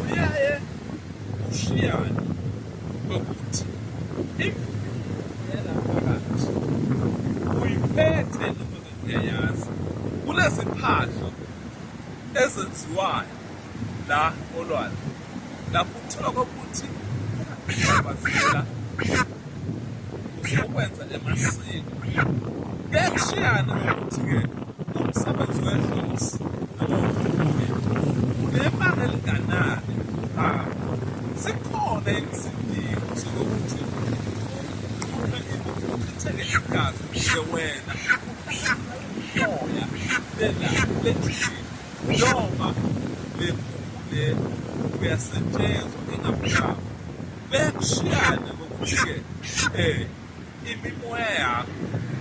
uyaye ushiyane ngokuthi imvela phakathi uyiphethe noma ngiyayazi kuneziphahlo ezenziwayo la olwandle lapho uthola kokuthi bazela ukwenza emasiko kuyashiyana ukuthi-ke umsebenzi wedlozi nebanga elinganani labo sikhona isidingo sokuthi uqhume ibukhetheke igazi nje wena umoya lena lejini noma le mpungu le uyasetshenzwa engamhlaba Bekushiyana ngokuthi-ke um imimoya yakho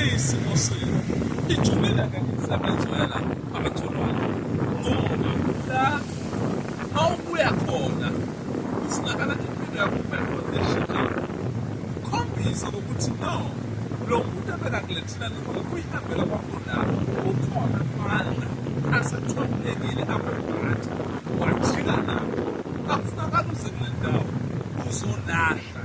iyisimo senu ijulele ngemisebenzi wena abatholayo ngoba la mawubuya khona kufunakala impilo yakho ube condition yakho ukhombise ukuthi no lo muntu abekakuletha thina noma kuyihambela kwakhonapho ukhona amandla asethombekile akubhathi wajika nabo akufunakala uze kule ndawo uzolahla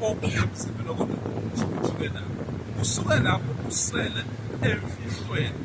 okungemzimela kodwa ujike nabo usuke lapho usele emfihlweni